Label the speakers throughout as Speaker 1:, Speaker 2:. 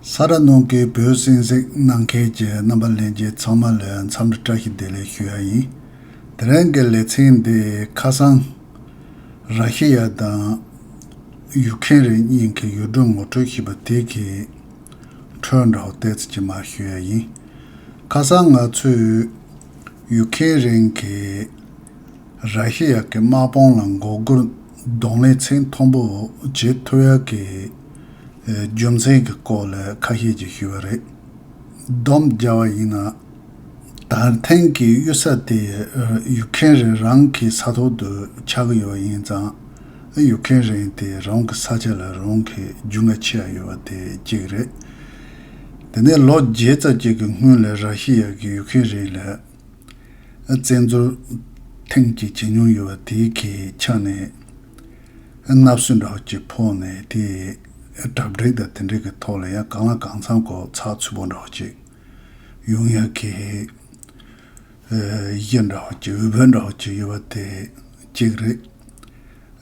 Speaker 1: ས་ར་ནོར་གྱིས་བོད་གསེང་གཟིགས་གནང་མཁན་གྱི་རྣམ་པ་ལེན་རྗེས་ཚང་མ་ལ་འཚམས་འདྲི་བཀྲ་ཤིས་བདེ་ལེགས་ཞུ་ཡ་ཡིན། དེ་རིང་གི་ལེ་ཚན་འདི་ཁ་སང། ར་ཤི་ཡ་དང། ཡུག་ཁན་རིགས་གཉིས་ཀྱི་ཡུལ་སྒྲོན་ངོ་སྤྲོད་ཞུས་པ་དེ་གི་ཁྲོད་འདྲ་བོ་ཏེ་ཙི་ཅི་མ་ཞུ་ཡ་ཡིན། ཁ་སང་ང་ཚོས་ཡུག་ཁན་རིང་གིས་ར་ཤི་ཡ་གི་དམག་དཔུང་ལ་མགོ་སྒུར་གདོང་ལས་ཚིག་མཐོན་པོ་བརྗེད་ཐུ་ཡ་གི་རྒྱུ་མཚན་གྱི་སྐོར་ལ་ཁ་ཤས་ཀྱིས་ཞུས་པ་རེད། སྡོམ་རྒྱག་བ་ཡིན་ན། ད་ཐེངས་ཀྱི་གཡུལ་ས་དེ་ཡུག་ཁེན་རིན་རང་གི་ས་ཐོག་ཏུ་ཆགས་ཀྱི་ཡོད་ཡིན་ཙང་ཡུག་ཁེན་རིན་དེ་རང་གི་ས་ཆ་ལ་རང་གི་རྒྱུ་འགའ་ཆེ་ཡ་ཡོད་པ་དེ་གཅིག་རེད། དེ་ནས་ལོ་བརྒྱད་རྩ་གཅིག་གི་སྔོན་ལ་ར་ཤི་ཡ་གིས་ཡུག་ཁེན་རིན་ལ། བཙན་འཛུལ་ཐེངས་གཅིག་བྱེད་མྱོང་ཡོད་པ་དེའི་གལ་ཆགས་ནས། མནབ་སྲིད་འདྲ་བོ་གཅིག་ཕོག་ནས་དེ་གྲབ་སྒྲིག་དང་དེ་འགྲིག་གི་ཐོག་ལ་ཡང་གང་ལ་གང་འཚམས་གོ་ཚགས་ཚུད་པོ་འདྲ་བོ་གཅིག་ཡོང་ཡ་གི། གཞི་འདྲ་བོ་གཅིག་འོས་བབ་འདྲ་བོ་གཅིག་ཡོད་པ་དེ་གཅིག་རེད།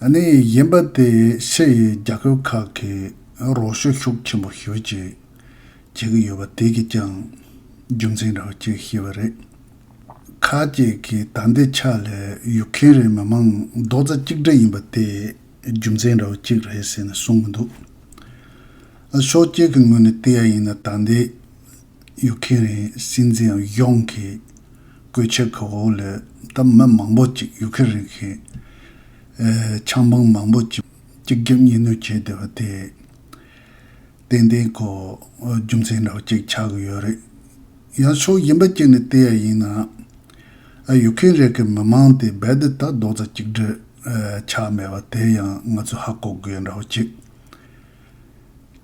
Speaker 1: གཉིས་ཡིན་པ་དེ་ཕྱི་ཡི་རྒྱ་ཁབ་ཁག་གིས་རོགས་ཤུགས་ཤུགས་ཆེན་པོ་ཞུ་ཅིག། བྱེད་ཀྱི་ཡོད་པ་དེ་གིས་ཀྱང་རྒྱུ་མཚན་རེད་ཅེས་བཤད་པ་རེད། ཁ་ཅིག་གིས་ད་འདི་ཆ་ལས་ཡུག་གྷན་རེ་མི་མང་རྡོག་རྩ་གཅིག་སྒྲིལ་ཡིན་པ་དེ་རྒྱུ་མཚན་རེའུ་གཅིག་རེད་ཟེར་ནས་གསུངས་གི་འདུག་ཨ། ཕྱོགས་གཅིག་གི་ངོས་ནས་བལྟས་ཡ་ཡིན་ན་ད་འདི་ཡུག་གྷན་རེ་སྲིད་འཛིན་ཨ་གཞོང་གིས་བཀོད་ཆེ་གི་འོག་ལས་ད་མི་མང་པོ་ཅིག་ཡུག་གྷན་རེ་གི་ཆང་འབངས་མང་པོ་ཅིག་གཅིག་རྒྱབ་གཉིས་གནོན་བྱས་བསྡད་པ་དེ། ཏན་ཏན་གོ། རྒྱུ་མཚན་རེ་བ་གཅིག་ཆགས་ཀྱི་ཡོད་རེད། ཡང་ཕྱོགས་གཞན་པ་གཅིག་ནས་བལྟས་ཡ་ཡིན་ན། ཨ་ཡུག་ཁེན་རེ་ཀི་མི་མང་དེ་རྦད་དེ་ད་རྡོག་རྩ་གཅིག་སྒྲིལ་ཆགས་མེད་པ་དེ་ཡང་ང་ཚོས་ཧ་གོ་དགོས་འདྲ་བོ་གཅིག།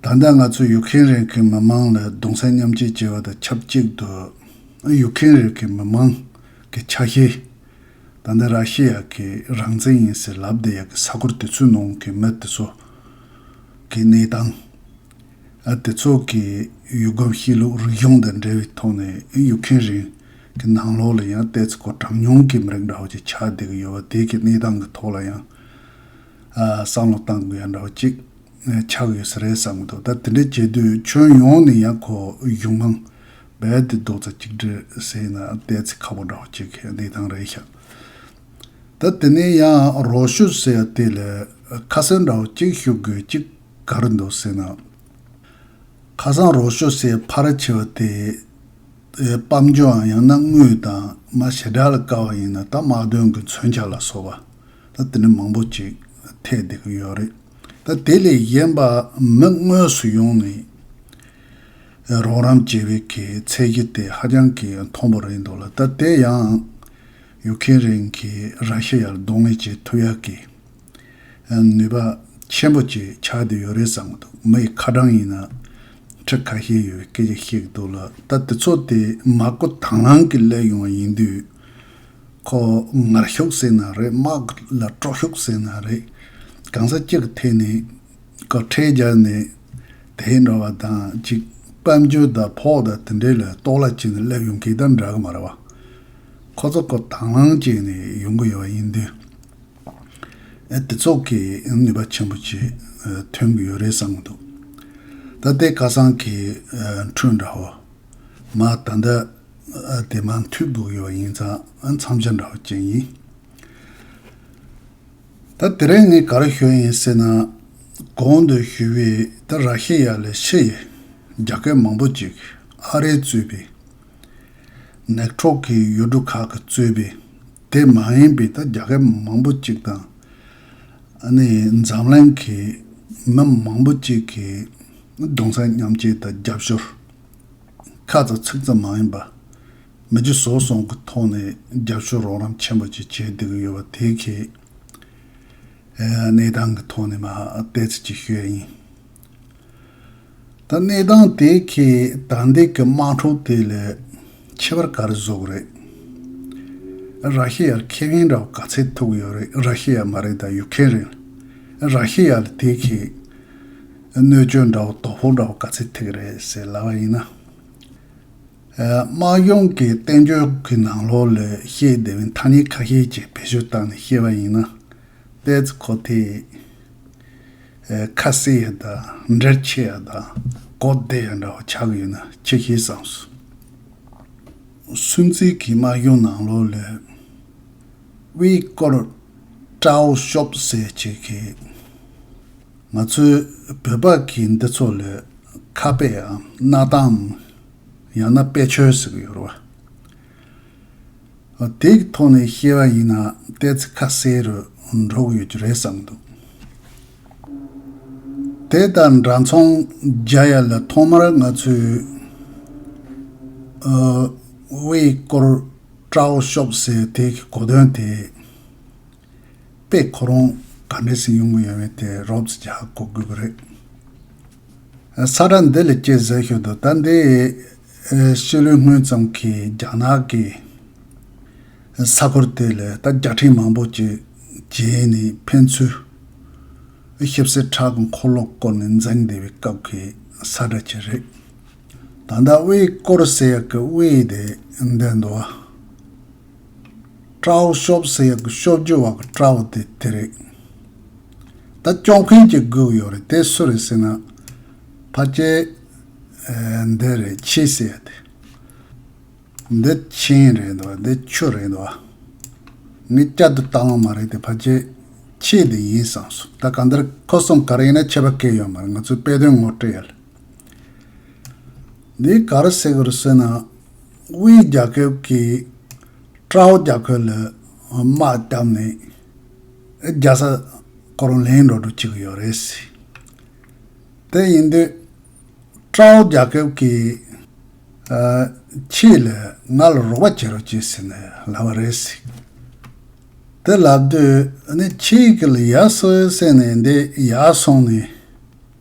Speaker 1: ད་ལྟ་ང་ཚོས་ཡུག་ཁེན་རེ་ཀི་མི་མང་ལ་གདུང་སེམས་མཉམ་སྐྱེད་བྱེད་པ་དང་ཆབས་གཅིག་ཏུ། ཨ་ཡུག་ཁེན་རེ་ཀི་མི་མང་གི་ཆ་ཤས། ད་ལྟ་ར་ཤི་ཡ་གི་རང་བཙན་ཡིན་ཟེར་ལབ་བསྡད་ཡ་གི་ས་གོར་དེ་ཚོའི་ནང་གི་མི་དེ་ཚོ་གི་གནས་སྟངས། དེ་ཚོ་གི་ཡུལ་སྒོམ་གཤིས་ལུགས་རིག་གཞུང་དང་འབྲེལ་བའི་ཐོག་ནས་ཡུག་ཁན་རིང་གི་ནང་ལོགས་ལ་ཡང་ལྟས་ཚེ་གོ་གྲངས་ཉུང་གི་མི་རིགས་འདྲ་བོ་ཅིག་ཆགས་བསྡད་ཀྱི་ཡོད་བ་དེ་གི་གནས་སྟངས་གི་ཐོག་ལ་ཡང་བསམ་བློ་གཏང་དགོས་ཡ་འདྲ་བོ་ཅིག་ཆགས་ཡོད་ས་རེད་བསམ་གྱི་འདུག་ད་དེ་འདྲ་བྱས་དུས་ཁྱོན་ཡོངས་ནས་ཡང་གོ་གཞུང་མང། རྦད་དེ་རྡོག་རྩ་གཅིག་སྒྲིལ་བྱས་ན་ལྟས་ཚེ་ཁ་བོ་འདྲ་བོ་གཅིག་གི་བདེ་ཐང་རེད་ཤག་ད་དེ་ནས་ཡང་རོགས་ཞུ་ཟེར་ཡ་དེ་ལ་ཁ་སང་འདྲ་བོ་གཅིག་ཞུ་དགོས་གཅིག་ག་རེ་འདུག་ཟེར་ན། ཁ་སང་རོགས་ཞུ་སའི་ཕ་ར་ཆེ་བ་དེ་སྤམ་རྒྱུའང་ཡང་ན་དངུལ་དང་མ་ཞེ་དྲག་ལ་དཀའ་བ་ཡིན་ན་ད་དམག་དོན་གྱི་མཚོན་ཆ་ལ་སོགས་པ་ད་དེ་འདྲ་མང་པོ་གཅིག་ཐེག་བསྡད་ཀྱི་ཡོད་རེད་ད་དེ་ལས་གཞན་པ་མི་དངོས་སུ་ཡོང་ནས། རོགས་རམ་བྱེད་རིགས་ཀྱི་ཚད་གཞི་དེ་ཧ་ཅང་གི་མཐོན་པོ་རེད་འདུག་ལ་ད་ལྟའི་ཡང་ཡུག་ཁེན་རིང་གིས་ར་ཤི་ཡར་རྡུང་ངེས་ཀྱི་མཐུ་ཡག་གི་ནུས་པ་ཆེན་པོ་གཅིག་ཆགས་བསྡད་ཡོད་རེད་བསམ་གི་འདུག་མི་ཡི་ཁ་གྲངས་ཡིན་ན་ཁྲི་ཁ་ཤས་ཡོད་པའི་སྐད་ཆ་བཤད་གི་འདུག་ལ་ད་དེ་ཚོ་དེ་མ་གོ་དྭང་བླང་གི་སླེབས་ཡོང་བ་ཡིན་དུས་ཁོ་ངར་ཤུགས་ཟེར་ན་རེད་དམག་ལ་དཀྲོག་ཤུགས་ཟེར་ན་རེད་གང་ས་ཅི་གི་ཐད་ནས་ཁ་ཕྲལ་རྒྱག་ནས་དེ་འདྲ་བ་དང་ཅིག་དཔལ་འབྱོར་དང་ཕོག་དང་དེ་འདྲའི་ལ་གཏོགས་ལ་ཅིག་ནས་སླེབས་ཡོང་གི་དང་འདྲ་གི་མ་རེད་བ། ཁོ་ཚོ་ཁོ་དང་ལང་བཅས་ནས་ཡོང་གི་ཡོད་བ་ཡིན་དུས། ཨེ་དེ་ཚོ་གིས་ནུས་པ་ཆེན་པོ་ཅིག་ཐོན་གི་ཡོད་རེད་བསམ་གི་འདུག་ད་ལྟའི་སྐལ་བཟང་གི་འཕྲུལ་འདྲ་བོ། མ་ད་ལྟ་ཨེ་དེ་མ་མཐུད་དགོས་ཡོད་བ་ཡིན་ཙང་མཚམས་ཆ་འདྲ་བོ་ཅན་ཡིན། ད་དེ་རིང་ངས་ག་རེ་བཤོད་ཡིན་ཟེར་ན། གོང་དུ་ཞུས་པའི་ད་ར་ཤི་ཡ་ལས་ཕྱི་ཡི་རྒྱ་སྐད་མང་པོ་ཅིག་ཨ་རིའི་གཙོས་པའི། ནེག་ཁྲོག་གི་ཡུལ་གྲུ་ཁག་གི་གཙོས་པའི་དེ་མ་ཡིན་པའི་ད་རྒྱ་སྐད་མང་པོ་ཅིག་དང། ཨ་ནི་འཛམ་གླིང་གི་མི་མང་པོ་ཅིག་གི་གདོང་སར་མཉམ་སྐྱེས་ད་རྒྱབ་ཤོར། ཁ་ཙག་ཚིག་ཙག་མ་ཡིན་པ། མི་རྒྱུ་བཟོ་བཟང་གི་ཐོག་ནས་རྒྱབ་སྐྱོར་རོགས་རམ་ཆེན་པོ་ཅིག་བྱེད་འདོད་ཡོད་པ་དེ་གའི་གནས་སྟངས་ཀྱི་ཐོག་ནས་མ་བལྟས་ཚེ་ཅིག་ཤོས་ཡིན། ད་གནས་སྟངས་དེ་གའི་དྲང་བདེན་གྱི་དམག་འཁྲུག་དེ་ལས་ཁྱད་པར་ག་རེ་བཟོ་གི་རེད། ར་ཤི་ཡར་ཁེ་ངན་འདྲ་བོ་ག་ཚད་ཐུག་གི་ཡོད་རེད་ར་ཤི་ཡ་མ་རེད་ད་ཡུག་ཁེན་རེད། ར་ཤི་ཡ་ལ་དེ་གའི་གནོད་སྐྱོན་འདྲ་བོ་དོ་ཕོག་འདྲ་བོ་ག་ཚད་ཐེག་གི་རེད་ཟེར་ལབ་པ་ཡིན་ན། དམག་སྦྱོང་གི་བསྟན་བཅོས་ཀྱི་ནང་ལོགས་ལས་ཤེས་བདེ་བའི་ཐ་སྙད་ཁ་ཤས་ཅིག་བེད་སྤྱོད་བཏང་ནས་ཤེས་པ་ཡིན་ན། ཏའི་ཙི་གོ་ཐའི་ཡི། ཁ་གསལ་ཡི་དང་འབྲེལ་ཆེ་ཡ་དང་གོ་བདེ་ཡ་འདྲ་བ་ཆགས་ཡོད་ན་ཅི་ཤེས་བསམ་སོང། སུན་ཙི་གིས་དམག་སྦྱོང་ནང་ལོགས་ལས། དབྱིས་སྐོར་ཀྲའོ་ཤོབ་ཟེར་ཅིག་གིས། ང་ཚོའི་བོད་པ་གི་འདི་ཚོ་ལས་ཁ་དཔེ་འམ་གནའ་གཏམ་འམ་ཡང་ན་དཔེ་ཆོས་ཟེར་གི་ཡོད་རེད་བ། དེ་གི་ཐོག་ནས་བཤད་པ་ཡིན་ན་ལྟས་ཚེ་ཁ་གསལ་རུ་འགྲོ་གི་ཡོད་ཀྱི་རེད་བསམ་གི་འདུག། དེ་དང་འདྲ་མཚུངས་རྒྱ་ཡ་ལ་ཐོག་མར་ང་ཚོའི་དབྱི་ཀོར་ཀྲའོ་ཤོབ་ཟེར་དེ་གི་གོ་དོན་དེ། པས་ཁོ་རང་ག་འདྲའི་སེམས་གཡོ་འགུལ་ཡོད་མེད་དེ་རོབ་ཙེ་རྒྱག་གོ་དགོས་པ་རེད། ས་དགྲ་འདི་ལས་སྐྱེས་ཟེར་ཞོར་དུ་ད་ལྟའི་ཕྱི་ལོའི་སྔོན་ཙམ་གྱི་རྒྱ་ནག་གི་ས་གོར་དེ་ལས་ད་བརྒྱ་ཕྲན་མང་པོ་ཅིག་རྗེས་ནས་ཕན་ཚུན་ཞིབ་གསེར་ཁྲག་གི་འཁོར་ལོ་བསྐོར་ནས་འཛེག་བསྡད་པའི་སྐབས་ཀྱི་ས་དགྲ་ཅིག་རེད། ད་ལྟ་དབྱིའི་སྐོར་ཟེར་ཡག་གི་དབྱིའི་དེ་འདི་འདུག་ཨ། ཀྲའོ་ཤོབ་སེ་ཡག་གི་ཤོབ་ཇོ་བག་ཀྲའོ་དེ་དེ་རེད། ད་སྐྱོང་མཁན་གྱི་སྒུག་ཡོད་རེད་དེ་སུ་རེད་ཟེར་ན། ཕ་སྐྱེ། འདི་རེད་ཁྱི་ཟེར་ཡ་དེ། འདི་ཁྱིམ་རེད་འདུག་འདི་ཆུ་རེད་འདུག་ཨ། ངས་བསྐྱར་དུ་བཏང་བ་མ་རེད་དེ་ཕ་སྐྱེ། ཁྱི་འདི་ཡིན་བསམ་སོང་ད་ག་འདིར་ཁོ་གསུམ་ག་རེ་ཡིན་ན་ཁྱད་པ་སྐད་ཡོད་མ་རེད་ང་ཚོས་དཔེ་དོན་ངོ་སྤྲོད་ཡ་ལ། འདི་ག་རུ་ཟེར་དགོས་རེད་ཟེར་ན། དབུས་རྒྱ་ཁབ་ཀྱིས་ཀྲའོ་རྒྱ་ཁོལ་ལ་དམག་བཏབ་ནས་རྒྱལ་ས་ཀོ་རོན་ལེན་འགྲོ་འགྲོ་བྱེད་ཀྱི་ཡོད་རེད། དེ་ཡིན་དུས་ཀྲའོ་རྒྱ་ཁབ་ཀྱིས་ཁྱེད་ལ་ང་ལ་རོགས་པ་བྱེད་རོགས་བྱེད་ཟེར་ནས་ལབ་པ་རེད། དེ་ལབ་དུས་ཁྱེད་ཀྱི་ལ་ཡར་སོའི་སེམས་ནས་འདི་ཡར་སོང་ནས།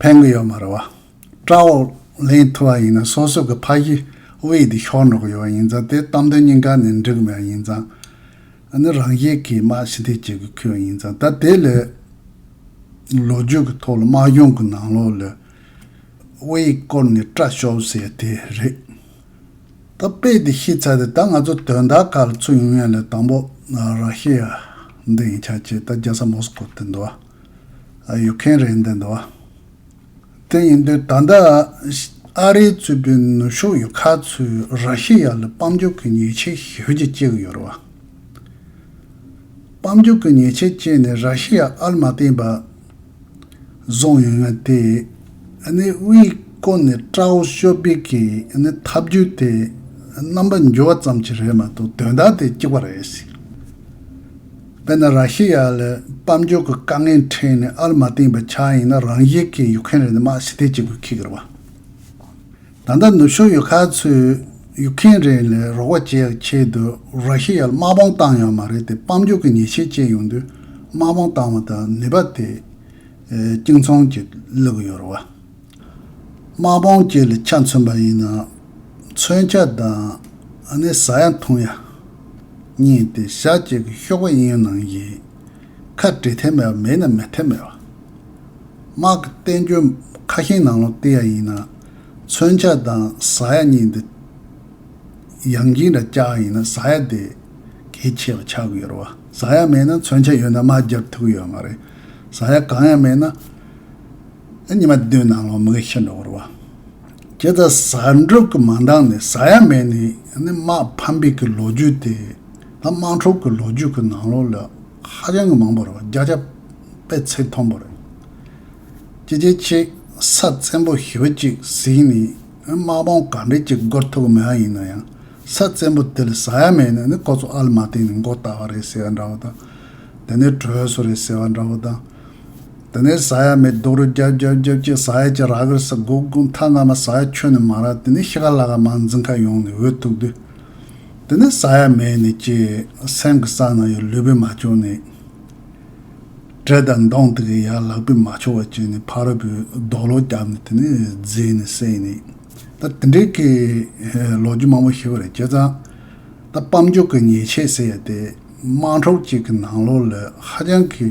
Speaker 1: ཕན་གི་ཡོད་མ་རེད་བ། བཀྲ་བོ། ལེན་ཐུབ་བ་ཡིན་ན་སོ་སོ་གི་ཕ་གཞི་དབྱིག་དེ་ཤོར་འགྲོ་གི་ཡོད་བ་ཡིན་ཙང་དེ་གཏམ་དོན་སྙིང་ག་ནས་འགྲིག་མེད་བ་ཡིན་ཙང། ཨ་ནི་རང་བཞིན་གིས་དམག་ཕྱི་འཐེན་བྱེད་དགོས་ཁེལ་བ་ཡིན་ཙང་ད་དེ་ལས། ལོ་རྒྱུས་གི་ཐོག་ལ་དམག་གཞུང་གི་ནང་ལོགས་ལས། དབྱིག་བསྐོར་ནས་བཀྲ་ཤོར་ཟེར་དེ་རེད། ད་དཔེ་དེ་ཤེས་ཚར་དེ་ད་ང་ཚོ་དོན་དག་ག་ལ་ཚུགས་ཡོང་ཡང་ལས་དང་པོ། ར་ཤི་ཡ། འདི་ཡིན་ཆ་བྱས་ད་རྒྱལ་ས་མོ་སི་ཀོ་དེ་འདུག་བ། ཡོད་མཁན་རེད་འདོད་འདུག་དེ་ཡིན་དུས་ད་ལྟ་ཨ་རིའི་གཙོས་པའི་ནུབ་ཕྱོགས་ཡུལ་ཁག་ཚོས་ར་ཤི་ཡ་ལ་དཔང་འཇུག་གི་ཉེས་ཆད་ཞུ་རྒྱུ་བཅས་ཡོད་རེད། དཔང་འཇུག་གི་ཉེས་ཆད་བཅད་ནས་ར་ཤི་ཡ་ཨར་མ་བརྟེན་པ་བཟུང་ཡོད་ན་དེ་ནི་དབུས་བསྐོར་ནས་ཀྲའོ་ཞོ་པི་གི་ཐབས་ཇུས་དེ་རྣམ་པ་འགྱུར་བ་ཙམ་གྱིས་རེད་མ་གཏོགས་དོན་དག་དེ་གཅིག་པ་རེད། དཔེར་ན་ར་ཤི་ཡ་ལས་དཔལ་འབྱོར་གྱི་དཀའ་ངལ་འཕྲད་ནས་ཨར་མ་བཏིངས་པའི་ཆ་ཡིན་ན་རང་ཞིག་གིས་ཡུག་ཁན་རེད་དམག་ཕྱི་ཐེ་བྱེད་དགོས་ཁིག་གི་རེད་བ། ད་ལྟ་ནུབ་ཕྱོགས་ཡུལ་ཁག་ཚོས་ཡུག་ཁན་རེད་ལས་རོགས་བ་བྱེད་ཡག་ཆེད་དུ་ར་ཤི་ཡ་ལ་དམག་དཔང་བཏང་ཡོད་མ་རེད་དེ་དཔལ་འབྱོར་གྱི་ཉེས་ཆད་བཅད་ཡོང་དུས་དམག་དཔང་བཏང་བ་དང་ནུས་པ་དེ་ཨེ་གཅིག་མཚུངས་ཀྱིས་བསླུ་གི་ཡོད་རེད་བ། དམག་དཔུང་བཅས་ལ་ཆ་མཚོན་པ་ཡིན་ནའང། མཚོན་ཆ་དང་ནི་ཟ་ཡ་འཐུང་ཡ་གཉིས་དེ་ཞག་གཅིག་གི་ཤོག་བུ་ཡིན་ནང་བཞིན། ཁ་བྲེ་ཐེབས་མེད་པ་མེད་ན་མི་ཐེབས་མེད་པ། དམག་གི་བསྟན་བཅོས་ཁ་ཞེང་ནང་ལོག་སྟེ་ཡ་ཡིན་ནའང། མཚོན་ཆ་དང་ཟ་ཡ་གཉིས་འདི། ཡང་སྦྱིན་དང་བཅའ་བ་ཡིན་ན་ཟ་ཡ་དེ་གལ་ཆེ་བ་ཆགས་ཀྱི་ཡོད་རེད། ཟ་ཡ་མེད་ན་མཚོན་ཆ་ཡོད་ན་དམག་རྒྱག་ཐུབ་ཀྱི་ཡོད་མ་རེད། ཟ་ཡ་གང་ཡང་མེད་ན། ཉི་མ་བདུན་ནང་ལོག་མི་གི་ཤི་འགྲོ་བར་བ། ཇི་ལྟར་ཟ་འབྲུག་གི་མ་འདང་ནི་ཟ་ཡ་མེད་ནི་ནི་དམག་ཕམ་པའི་གི་ལོ་རྒྱུས་དེ་ལ་དམག་འཁྲུག་གི་ལོ་རྒྱུས་གི་ནང་ལོག་ལོས་ཧ་ཅང་གི་མང་པོ་རེད་བ་རྒྱག་ཆ་པའི་ཚིག་མཐོང་པོ་རེད། ཅི་ཇེ་ཆེ་ས་བཙན་པོ་ཞི་བ་ཅིག་ཟིག་ནི་ནི་དམག་དཔུང་ག་འདྲས་ཅིག་འགོར་ཐུབ་གི་མེད་ཨ་ཡིན་ན་ཡང་ས་བཙན་པོ་དེ་ལ་ཟ་ཡ་མེད་ནི་ནི་ཁོ་ཚོ་ཨ་ལ་མ་བརྟེན་ནི་མགོ་བཏགས་བ་རེད་ཟེར་བ་འདྲ་བོ་དང། དེ་ནི་གྲོས་སུ་རེད་ཟེར་བ་འདྲ་བོ་དང། དེ་ནས་ས་ཡ་མེ་རྡོག་རུ་རྒྱབ་རྒྱབ་རྒྱབ་ཀྱིས་ས་ཡ་གྱི་ར་གུར་ས་སྒོ་བསྒུག་མཐའ་སྔ་མ་ས་ཡ་ཁྱོན་ནས་མང་རག་དེ་ནས་ཤི་ཁ་ལ་ཁ་མང་འཛིང་ཁ་ཡོང་ནས་འོད་ཐུག་དུས། དེ་ནས་ས་ཡ་མེ་ནས་ཀྱིས་སེམས་ཀྱི་ས་ན་ཡོད་ལུས་པས་མ་བྱུང་ནས། དྲེད་དང་མདོང་དེ་གི་ཡ་ལག་པས་མ་བྱུང་བ་བྱས་ནས་ཕ་རོལ་པོས་རྡོག་ལོག་བརྒྱབ་ནས་དེ་ནས་བརྫིས་ནས་བསད་ནས། ད་དེ་འདྲའི་ཀྱི་ལོ་རྒྱུས་མང་པོ་ཤི་བ་རེད་བྱས་ཙང། ད་སྤམ་རྒྱུག་གི་ཉེས་ཆད་ཟེར་ཡ་དེ་དམངས་གྲོགས་གཅིག་གི་ནང་ལོགས་ལ་ཧ་ཅང་གི།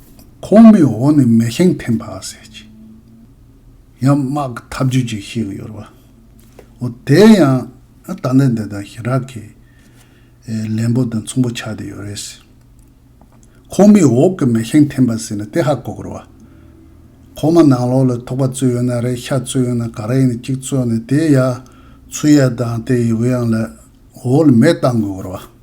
Speaker 1: ཁོང་མོའི་འོག་ནས་མེ་ཤིང་འཐེན་པ་ཟེར་གྱི། ཡང་དམག་གི་འཐབ་ཇུས་ཅིག་ཤེས་ཀྱི་ཡོད་རེད་པ། འོ་དེ་ཡང་ད་ལྟ་འདི་དང་ཞི་རག་གི་ལན་པོ་དང་མཚུངས་པོ་ཆགས་བསྡད་ཡོད་རེད། ཁོང་མོའི་འོག་གི་མེ་ཤིང་འཐེན་པ་ཟེར་ནས་དེ་ཧ་གོ་དགོས་རེད་པ། ཁོང་མོ་ནང་ལོགས་ལ་ཐོག་པ་བཙོས་ཡོད་ན་རེད་ཤ་བཙོས་ཡོད་ན་ག་རེ་ཡིན་ནི་གཅིག་བཙོས་ནས་དེ་ཡང་ཚུར་ཡར་དང་དེ་ཡི་དབྱངས་ལས་འོག་ལ་མེ་བཏང་དགོས་རེད་པ།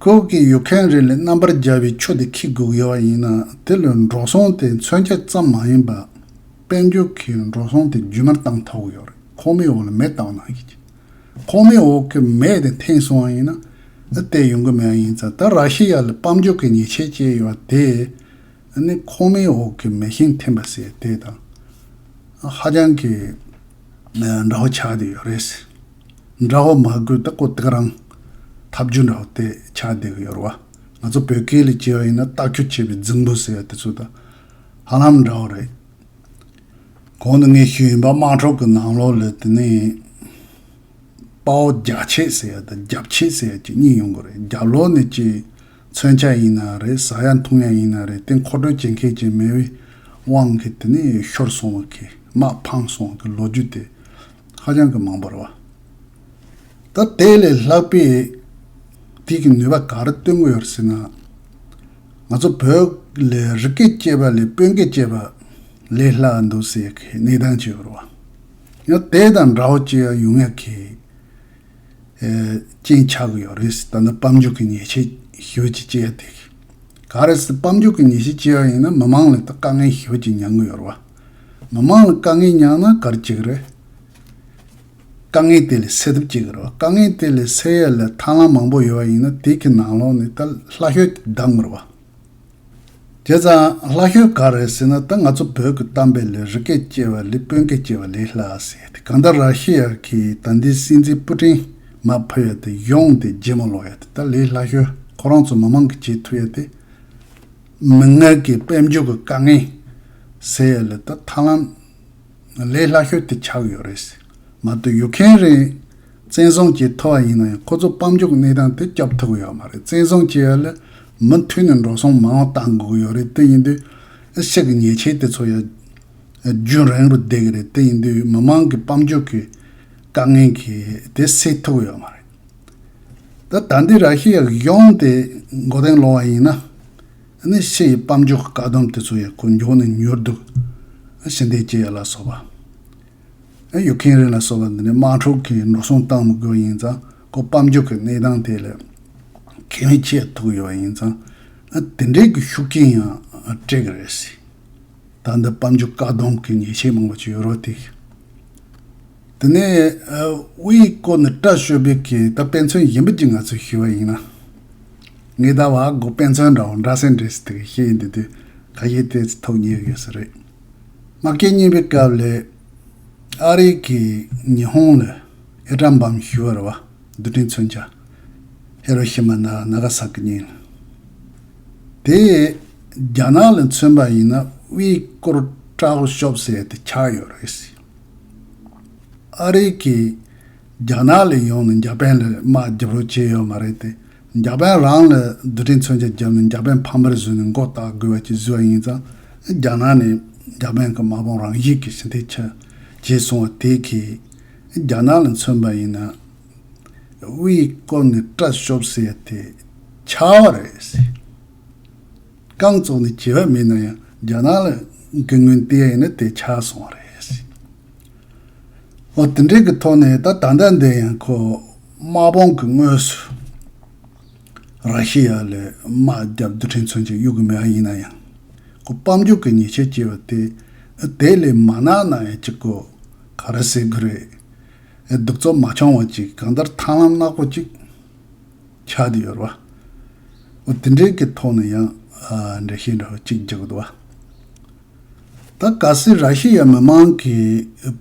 Speaker 1: ཁོའུ་ཀེ་ཡོད་མཁན་རེ་ལས་རྣམ་པར་རྒྱལ་བའི་ཆོས་དེ་ཁྱི་དགུག་ཡོད་པ་ཡིན་ན་དེ་ལོས་འགྲོ་སོང་དེ་མཚོན་ཆ་ཙམ་མ་ཡིན་པར། དཔལ་འབྱོར་གྱི་འགྲོ་སོང་དེ་རྒྱུན་མར་བཏང་ཐོག་ཡོད་རེད་ཁོ་མོའི་འོག་ལ་མེ་བཏང་ན་ཡིན་གྱི། ཁོ་མོའི་འོག་གི་མེ་དེ་འཐེན་སོང་བ་ཡིན་ན། བལྟས་ཡོང་གི་མེད་ཡིན་ཙང་ད་ར་ཤི་ཡ་ལ་དཔལ་འབྱོར་གྱི་ཉེས་ཆད་བཅད་ཡོད་པ་དེས་ནི་ཁོ་མོའི་འོག་གི་མེ་ཤིང་འཐེན་པ་ཟེར་དེ་དང་ཧ་ཅང་གི། འདྲ་བོ་ཆགས་བསྡད་ཡོད་རེད། འདྲ་བོ་མ་དགོས་ཏེ་ཀོ་ཐེག་རང་ཐབས་རྒྱུ་འདྲ་བོ་དེ་ཆགས་བསྡད་ཀྱི་ཡོད་རེད་བ། ང་ཚོ་བོད་སྐད་ལས་སྐྱེས་བ་ཡིན་ན་རྟགས་ཁྱུ་ཆེ་བའི་རྫིང་བུ་ཟེར་བ་དེ་ཚོ་དང་ཧ་ལམ་འདྲ་བོ་རེད། གོང་དུ་ངས་ཤོད་ཡིན་པ་དམངས་ཁྲོད་ཀྱི་ནང་ལོགས་ལས་དེ་ནས་དཔའ་བོ་རྒྱ་ཆེ་ཟེར་བ་དང་རྒྱབ་ཆེ་ཟེར་བ་གཅིག་གཉིས་ཡོང་གི་རེད་རྒྱབ་ལོགས་ནས་ཀྱི། མཚོན་ཆ་ཡིན་ན་རེད་ཟ་ཡ་འཐུང་ཡ་ཡིན་ན་རེད་དེ་མཁོ་སྤྲོད་བྱེད་མཁས་ཀྱི་མེད་པའི་དབང་གིས་དེ་ནས་ཤོར་སོང་བ་གིས་དམག་འཕངས་སོང་བ་གི་ལོ་རྒྱུས་དེ་ཧ་ཅང་གི་མང་པོར་བ། ད་དེ་ལས་ལྷག་པའི་དུས་ཀྱི་ནུས་པ་ག་རེ་སྟོན་དགོས་ཡོད་ཟེར་ན། ང་ཚོ་བོད་ལས་རི་སྐད་སྐྱེས་པ་ལས་དཔོན་སྐད་སྐྱེས་པ་ལས་སླ་བ་འདུག་ཟེར་ཡ་གི་གནས་སྟངས་བྱས་ཡོད་རེད་བ། ཡང་དེ་དང་འདྲ་བོ་སྐྱེས་ཡ་ཡོང་ཡ་གི། རྐྱེན་ཆགས་ཀྱི་ཡོད་རེད། ད་ལྟ་དཔལ་འབྱོར་གྱི་ཉེས་ཆད་ཞུ་རྒྱུ་བཅས་ཡོད་དེ། ག་རེ་ཟེར་དཔལ་འབྱོར་གྱི་ཉེས་ཆད་བཅད་ཡོད་ཡིན་ན་མི་མང་ལ་ད་དཀའ་ངལ་ཞུ་རྒྱུ་མྱང་གི་ཡོད་རེད། མི་མང་ལ་དཀའ་ངལ་མྱང་ན་གར་བྱེད་ཀྱི་རེད། དཀའ་ངལ་དེ་ལས་སེལ་ཐབས་བྱེད་ཀྱི་རེད། དཀའ་ངལ་དེ་ལས་སེལ་ཡ་ལ་ཐར་ལམ་མང་པོ་ཡོད་ཡིན་ན་དེ་གི་ནང་ལོགས་ནས་ད་ལྷ་ཤོད་དེ་བདམས་ཀྱི་རེད། དེ་ཙང་ལྷ་ཤོད་ག་རེད་ཟེར་ན་ད་ང་ཚོ་བོད་ཀྱི་གཏམ་དཔེ་ལས་རི་སྐད་ཅེས་པ་ལས་དཔོན་སྐད་ཅེས་པ་ལས་ལྷ་ཟེར་ཏེ་གང་ལྟར་ར་ཤི་ཡ་གིས་ད་འདི་སྲིད་འཛིན་པུ་ཀྲིན་མ་ཕུད་ཡ་དེ་ཡོང་དེ་རྗེས་མ་ལོག་ཡ་དེ་ད་ལས་ལྷ་ཤོད་ཁོ་རང་ཚོ་མི་མང་གི་བྱེད་ཐུབ་ཡ་དེ། མི་ངན་གྱི་དཔལ་འབྱོར་གྱི་དཀའ་ངལ་ཟེར་ཡ་ལས་ད་ཐར་ལམ། ལས་སླ་ཤོས་དེ་ཆགས་ཡོད་རེད། མ་གཏོགས་ཡུག་ཁན་རིགས་བཙན་བཟུང་བྱས་ཐུབ་པ་ཡིན་ན་ཡང་ཁོ་ཚོ་དཔང་འཇུག་གནས་སྟངས་དེ་སྐྱོབ་ཐུབ་ཀྱི་ཡོད་མ་རེད་བཙན་བཟུང་བྱས་ཡོད་ལ་མུ་མཐུད་ནས་འགྲོ་སོང་མང་བ་གཏང་དགོས་ཀྱི་ཡོད་རེད་དེ་ཡིན་དུས་ཨི་ཤི་ཀི་ཉེས་ཆད་དེ་ཚོ་ཡང་རྒྱུན་རིང་རུ་བསྡད་ཀྱི་རེད་དེ་ཡིན་དུས་མི་མང་གི་དཔང་འཇུག་གི་དཀའ་ངལ་གྱི་དེ་སེལ་ཐུབ་ཀྱི་ཡོད་མ་རེད། ད་ལྟ་འདི་ར་ཤི་ཡ་གཞུང་དེ་མགོ་རྟིང་སློག་བ་ཡིན་ན། ནི་ཕྱི་ཡི་སྤམ་ཅོག་བཀག་སྡོམ་དེ་ཚོ་ཡང་སྐུ་མགྱོགས་ནས་མྱུར་འདུག་ཕྱི་འདེད་སྐྱེལ་ཡ་ལ་སོགས་པ། ཡུལ་མཁན་རིན་ལ་སོགས་པ་འདི་ནི་དམག་འཁྲུག་གི་འགྲོ་སོང་བཏང་མི་དགོས་ཡིན་ཙང་ཁོ་སྤམ་ཅོག་གི་གནས་སྟངས་དེ་ལས་ཁེ་མི་ཆེ་ཐུག་ཡོད་ཡིན་ཙང་དེ་འདྲའི་གི་ཤུགས་རྐྱེན་ཡང་སྤྲད་གི་རེད་སྲིད། ད་འདི་སྤམ་ཅོག་བཀག་སྡོམ་གི་ཉེས་ཆད་མང་པོ་བྱས་ཡོད་རོགས་དེ། དེ་ནས་དབུ་ཡི་སྐོར་ནི་བཀྲ་ཤོད་བེད་ཀྱི་ད་དཔེ་མཚོན་ཡིན་པོ་ཅི་ང་ཚོས་ཞུ་བ་ཡིན་ན། ངས་ད་བ་གོ་དཔེ་མཚོན་འདྲ་བོ་འདྲ་སེ་འདྲེ་སེ་དེ་ག་ཤེད་ཡིན་དེ་དུས་ག་ཤེད་དེ་ཚོ་ཐོབ་ཉེ་གི་སུ་རེད། མ་སྐད་གཉིས་པའི་སྐབས་ལས། ཨ་རི་གི་ཉི་ཧོང་ལ་ཨེ་ཀྲ་འབམ་ཞུ་བར་བ་རྡུ་དྲིན་མཚོན་བྱ། ཧེ་རོ་ཤི་མ་ན་ན་ག་ས་ཀི་གཉིས་ལ། དེ་རྒྱ་ནག་ལ་མཚོན་པ་ཡིན་ན་དབུ་ཡི་སྐོར་བཀྲ་ཤོབ་སེ་དེ་ཆགས་ཡོད་རེད་སེ། ཨ་རི་གིས་རྒྱ་ནག་ལས་ཡོང་ནས་འཇར་པན་ལ་དམག་རྒྱག་རོགས་བྱས་ཡོད་མ་རེད་དེ། འཇར་པན་རང་ལ་རྡུལ་ཕྲན་མཚོན་ཆ་བརྒྱབ་ནས་འཇར་པན་ཕམ་པར་བཟོས་ནས་མགོ་བཏགས་དགོས་བ་གཅིག་བཟོས་ཡིན་ཙང་རྒྱ་ནག་ནས་འཇར་པན་གྱི་དམག་དཔུང་རང་ཡིག་གི་ཞི་བདེ་ཆ་བྱེད་སོང་བ་དེ་གས་རྒྱ་ནག་ལ་མཚོན་པ་ཡིན་ན་དབུས་བསྐོར་ནས་སྐྲ་གཤོབ་ཟེར་དེ་ཆ་བ་རེད། རྐང་བཙུགས་ནས་བྱེད་པ་མེད་ན་ཡང་རྒྱ་ནག་ལ་དགེ་སྔོན་བལྟས་ཡིན་ན་དེ་ཆགས་སོང་བ་རེད། ཨོ་དེ་འདྲའི་གི་ཐོག་ནས་ད་ད་ལྟ་འདི་ཡང་ཁོ་དམག་དཔུང་གི་དངོས་སུ་ར་ཤི་ཡ་ལས་དམག་རྒྱབ་རྡུལ་ཕྲན་ཚུན་གྱི་གཡུག་གི་མེད་ཨ་ཡིན་ན་ཡང་ཁོ་སྤམ་རྒྱུག་གི་ཉེས་ཆད་བཅད་པ་དེ་དེ་ལས་མ་ནག་ན་ཡང་ཅི་དགོས་ག་རེ་ཟེར་གི་རེད། གདུག་རྩུབ་མ་ཆུང་བ་ཅིག་གང་ལྟར་ཐང་ལམ་ནག་པོ་ཅིག། ཆགས་ཀྱི་ཡོད་པ། འོ་དེ་འདྲའི་གི་ཐོག་ནས་ཡང་འགྲེལ་བཤད་འདྲ་བོ་གཅིག་རྒྱག་དགོས་བ། ད་ག་སི་ར་ཤི་ཡ་མི་མང་གི་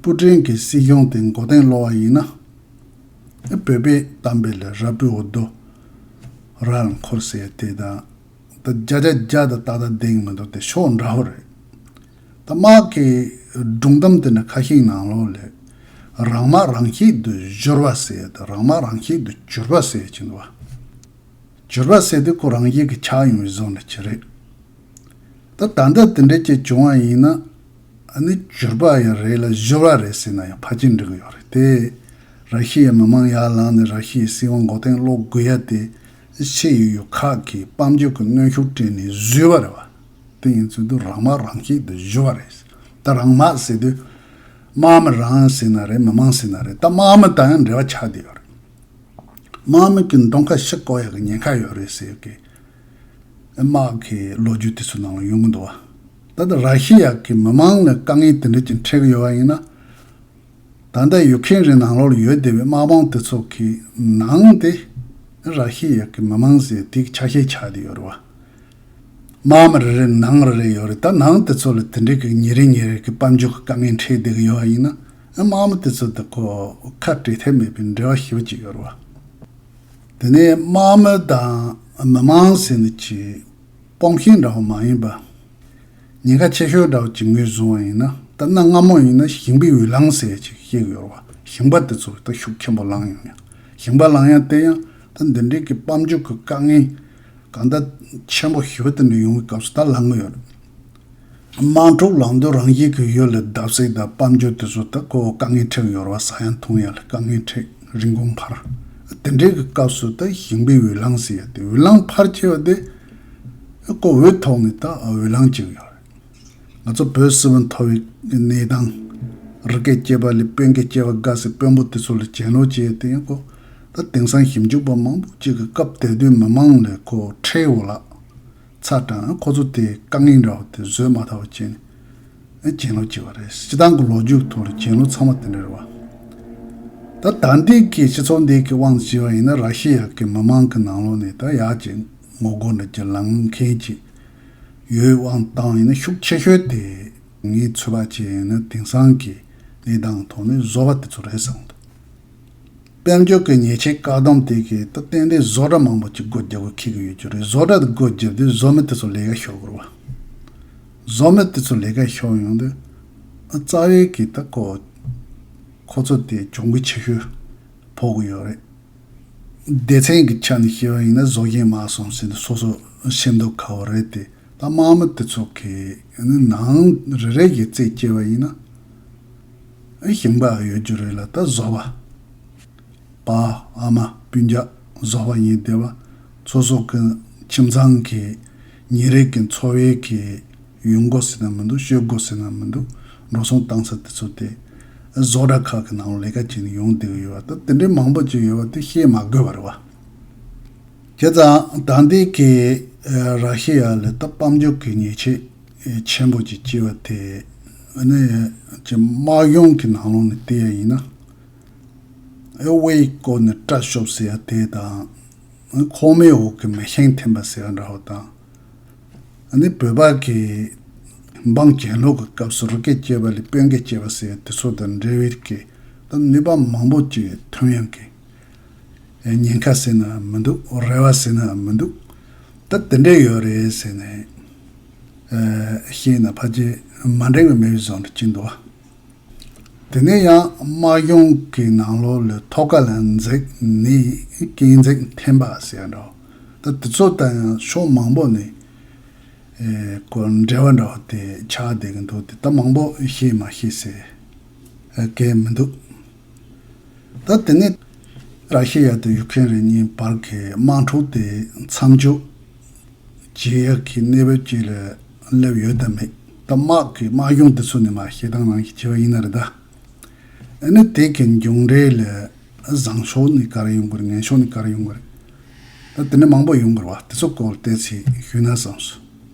Speaker 1: པུ་ཀྲིན་གི་སྲིད་གཞུང་དེ་མགོ་སྟེང་སློག་བ་ཡིན་ན། བོད་པའི་གཏམ་དཔེ་ལ་ར་སྤུའི་འོ་རྡོ་ར་ལ་འཁོར་ཟེར་ཡ་དེ་དང་ད་བརྒྱ་ཆ་བརྒྱ་དང་ཏག་ཏག་བདེན་གི་མི་འདུག་དེ་ཕྱོགས་འདྲ་བོ་རེད། ད་དམག་གི་སྒྲུང་གཏམ་དེ་འདྲ་ཁ་ཤིག་ནང་ལོག་ལས། རང་དམག་རང་གཅིག་ཏུ་གཞོལ་བ་ཟེར་ཡ་དང་རང་དམག་རང་གཅིག་ཏུ་གྱུར་པ་ཟེར་གྱིན་འདུག་བ། གྱུར་པ་ཟེར་དུས་ཁོ་རང་གཞན་གྱི་ཆགས་ཡོང་བའི་བཟོ་འདྲ་གྱི་རེད། ད་ད་ལྟ་དེ་འདྲའི་ཅིག་བྱུང་བ་ཡིན་ན། ནི་གྱུར་པ་ཡང་རེད་ལ་གཞོལ་བ་རེད་ཟེར་ན་ཡང་ཕ་གཅིག་འགྲིག་གི་ཡོད་རེད་དེ། ར་ཤི་ཡའི་མི་མང་ཡར་ལངས་ནས་ར་ཤི་ཡའི་སྲིད་དབང་མགོ་སྟེང་སློག་དགོས་ཡ་དེ། ཕྱེད་ཡོད་ཡོད་ཁག་གིས་དཔལ་འབྱོར་གྱི་གནོན་ཤུགས་སྤྲད་ནས་བཟོས་པ་རེད་བ། དེ་ཡིན་ཚུལ་དུ་རང་དམག་རང་སྐྱིད་དུ་བཞུ་བ་རེད། ད་རང་དམག་ཟེར་དུས། དམག་མི་རང་ཟེར་ན་རེད་མི་དམངས་ཟེར་ན་རེད་ད་དམག་མི་དང་ཡང་འབྲེལ་བ་ཆགས་བསྡད་ཡོད་རེད། དམག་མི་གི་མདོང་ཁ་ཤི་ཀོ་ཡ་གི་ཉེན་ཁ་ཡོད་རེད་ཟེར་གི། དམག་གི་ལོ་རྒྱུས་དུས་ཚོད་ནང་ལ་ཡོང་གི་འདུག་བ། ད་ལྟ་ར་ཤི་ཡ་གི་མི་དམངས་ལ་དཀའ་ངལ་དེ་འདྲ་ཅིག་འཕྲད་ཀྱི་ཡོད་བ་ཡིན་ན། ད་ལྟ་ཡུག་ཁེན་རི་ནང་ལོགས་ཡོད་སྡེ་བའི་དམག་དཔོང་དེ་ཚོ་གི་ནང་སྟེ་ར་ཤི་ཡ་གི་མི་མང་ཟེར་དེ་གི་ཆ་ཤས་ཆགས་དེ་ཡོད་རེད་བ། དམག་མི་རེ་རེ་ནང་རེ་རེ་ཡོད་རེད་ད་ནང་དེ་ཚོ་ལ་དེ་འདྲའི་གི་ཉེ་རེ་ཉེ་རེ་གི་དཔལ་འབྱོར་གི་དཀའ་ངལ་འཕྲད་དེ་གི་ཡོད་བ་ཡིན་ན་དམག་མི་དེ་ཚོ་དེ་གོ་ཁ་བྲལ་ཐབས་མེད་པའི་འབྲེལ་བ་ཞིབ་བ་ཅིག་ཡོད་རེད་བ། དེ་ནས་དམག་མི་དང་མི་མང་ཟེར་འདི་གི་དཔོང་ཤེས་འདྲ་བ་མ་ཡིན་པ། ཉེན་ཁ་ཆེ་ཤོས་འདྲ་བོ་ཇི་མི་བཟུང་བ་ཡིན་ན་ད་གནའ་སྔ་མོ་ཡིན་ན་ཞིང་པའི་འོས་ལངས་ཟེར་ཡས་ཅིག་ཤིག་ཡོད་རེད་བ་ཞིང་པ་དེ་ཚོ་ད་ཤུགས་ཆེན་པོ་ལངས་ཡོང་ཡ་ཞིང་པ་ལངས་ཡ་དེ་ཡང་ད་འདི་འདྲིའི་གི་དཔལ་འབྱོར་གི་དཀའ་ངལ་གང་ད་ཆེན་པོ་ཞི་བ་དེ་འདྲ་ཡོང་བའི་སྐབས་སུ་ད་ལངས་གི་ཡོད་རེད་དམངས་ཁྲོད་ལངས་དུས་རང་བཞིན་གི་ཡོད་ལ་བརྡབ་གསིག་ད་དཔལ་འབྱོར་དེ་ཚོ་ད་ཁོ་བོ་དཀའ་ངལ་འཕྲད་གི་ཡོད་རེད་བ་ཟ་ཡ་འཐུང་ཡ་ལ་དཀའ་ངལ་འཕྲད་རིན་གོང་འཕར་ཨ་དེ་འདྲའི་གི་སྐབས་སུ་ད་ཞིང་པའི་འོས་ལངས་ཟེར་ཡ་དེ་འོས་ལངས་འཕར་ཆེ་བ་དེ། ཀོ་འོད་ཐོག་ནས་ད་འོད་ལངས་ཀྱིན་ཡོད་རེད། ང་ཚོ་བོད་སིལ་བུ་མཐོ་བའི་གནས་སྟངས། རི་སྐད་སྐྱེས་པ་ལས་དཔོན་སྐད་སྐྱེས་པ་དགའ་སའི་དཔོན་པོ་དེ་ཚོ་ལས་གྱེན་ལོག་བྱས་ཏེ་ཡིན་གོ། ད་དེང་སང་ཞིབ་འཇུག་པ་མང་པོ་གཅིག་གི་སྐབས་དེ་དུས་མི་མང་ལས་ཁོ་ཁྲེའུ་ལགས་ཚ་གྲང་ཁོ་ཚོ་དེའི་དཀའ་ངལ་འདྲ་བོ་དེ་བཟོད་མ་ཐག་པ་བྱས་ནས་གྱེན་ལོག་བྱས་པ་རེད། སྤྱི་བཏང་གི་ལོ་རྒྱུས་ཐོག་ལ་གྱེན་ལོག་ཚང་མ་དེ་འདྲ་རེད་བ། ད་ད་འདི་གི་སྤྱི་ཚོགས་འདི་གི་དབང་དུ་བྱས་པ་ཡིན་ན་ར་ཤི་ཡ་གི་མི་མང་གི་ནང་ལོགས་ནས་ད་ཡག་ཅིག་ངོ་རྒོལ་འདི་ཀྱི་ལངས་མཁན་གྱི་ཡོད་དབང་བཏང་ཡིན་ན་ཤུགས་ཆེ་ཤོས་དེ་ངའི་ཚོད་དཔག་བྱས་ཡིན་ན་དེང་སང་གི་གནས་སྟངས་ཐོག་ནས་བཟོ་བ་དེ་ཚོ་རེད་བསམ་འདུག་དཔལ་འབྱོར་གྱི་ཉེས་ཆད་བཀག་སྡོམ་དེ་གའི་ཏུ་བརྟེན་ཏེ་བཟོ་གྲྭ་མང་པོ་ཅིག་སྒོ་རྒྱག་དགོས་ཁེལ་གྱི་ཡོད་རྒྱུ་རེད་བཟོ་གྲྭ་དེ་སྒོ་བརྒྱབ་དུས་བཟོ་མི་དེ་ཚོ་ལས་ཀ་ཤོར་དགོས་རེད་བཟོ་མི་དེ་ཚོ་ལས་ཀ་ཤོར་ཡོང་དུས་རྩ་བའི་གི་ད་ཁོ་ཁོ་ཚོ་དེ་གྱོང་གུད་ཆེ་ཤོས་ཕོག་གི་ཡོད་རེད། སྡེ་ཚན་གྱི་ཆ་ནས་བཤད་པ་ཡིན་ན་བཟོ་མཁན་མ་སོང་ཟེར་ནས་སོ་སོ་ཤེས་མདོག་ཁ་བ་རེད་དེ། ད་དམག་མི་དེ་ཚོ་གིས་ནི་ནང་རེ་རེ་བཞིན་རྩད་སྐྱེལ་བ་ཡིན་ན། ཞིང་པ་ཡོད་རྒྱུ་རེད་ལ་ད་བཟོ་པ། པ་ཨ་མ་སྤུན་རྒྱག་བཟོ་པ་ཡིན་སྡེ་བ་ཚོ་སོགས་ཀྱི་ཁྱིམ་ཚང་གི་ཉིན་རེ་གི་འཚོ་བའི་གི། ཡོན་འགོ་ཟེར་ན་མི་འདུག་ཤོད་འགོ་ཟེར་ན་མི་འདུག་འགྲོ་སོང་བཏང་ས་དེ་ཚོ་སྟེ། བཟོ་གྲྭ་ཁག་གི་ནང་ལས་ཀ་བྱེད་ནས་ཡོང་བསྡད་ཡོད་པ་དང་དེ་འདྲའི་མང་པོ་བྱས་ཡོད་པ་དེ་བཤད་མ་དགོས་པར་བ། བྱས་ཙང་ད་ལྟའི་ཁེ་ར་ཤེས་ཡ་ལས་ཏོག་དཔལ་འབྱོར་གྱི་ཉེས་ཆད་ཆེན་པོ་ཅིག་བཅད་པ་དེ་ནི་ཀྱི་དམག་ཡོངས་ཀྱི་ནང་ལོགས་ནས་བལྟས་ཡ་ཡིན་ན། ཨེ་ཝེ་ཡི་སྐོར་ནས་སྐྲ་གཤོབ་ཟེར་ཡ་དེ་དང། ཁོག་མའི་འོག་གི་མེ་ཤིང་འཐེན་པ་ཟེར་ཡ་འདྲ་བོ་དང། ཨ་ནི་བོད་པ་གི། འབངས་གྱེན་ལོག་གི་སྐབས་སུ་རུ་སྐད་སྐྱེས་པ་ལས་དཔོན་སྐད་སྐྱེས་པ་ཟེར་དེ་ཚོ་དང་འབྲེལ་བའི་སྐད་དུ་ནུས་པ་མང་པོ་ཅིག་ཐོན་ཡང་གི། ཉེན་ཁ་ཟེར་ནའང་མི་འདུག་རེ་བ་ཟེར་ནའང་མི་འདུག་ད་དེ་འདྲས་ཡོད་རེད་ཟེར་ནས། ཤེས་ན་ཕ་རྗེས་མ་འགྲིག་པའི་མི་བཟང་དུ་ཅིག་འདུག་བ། དེ་ནས་ཡང་དམག་སྦྱོང་གི་ནང་ལོག་ལོས་ཐོག་ཁ་ལ་འཛེགས་ནས་སྐྱེལ་འཛེག་འཐེན་པ་ཟེར་ཡ་འདྲ། ད་དེ་ཚོ་ལྟར་ཡང་ཕྱོགས་མང་པོ་ནས་སྐོར་འབྲེལ་བ་འདྲ་བ་དེ་ཆགས་བསྡད་ཀྱི་འདུག་དེ་ལྟ་མང་པོ་ཤེས་མ་ཤེས་ཟེར་མཁན་མི་འདུག། ད་དེ་ནས་ར་ཤི་ཡ་དང་ཡུག་ཁན་རིགས་གཉིས་བར་གྱི་དམག་འཁྲུག་དེ་མཚམས་འཇོག་བྱེད་ཡག་གི་གནས་བབ་ཅིག་ལ་སླེབས་ཡོད་དམ་མེད། ད་དམག་གི་དམག་གཞུང་དེ་ཚོ་ནི་མ་ཤེས་དང་རང་གིས་བྱས་པ་ཡིན་ན་རེད་ད། ཨ་ནི་དེ་གི་མཇུག་འབྲས་ལ་བཟང་ཕྱོགས་ནི་ག་རེ་ཡོང་གི་རེད་ངན་ཕྱོགས་ནི་ག་རེ་ཡོང་གི་རེད། ད་དེ་ནས་མང་པོ་ཡོང་གི་རེད་བ་དེ་ཚོ་སྐོར་བལྟས་ཚེ་ཞུས་ན་བཟང།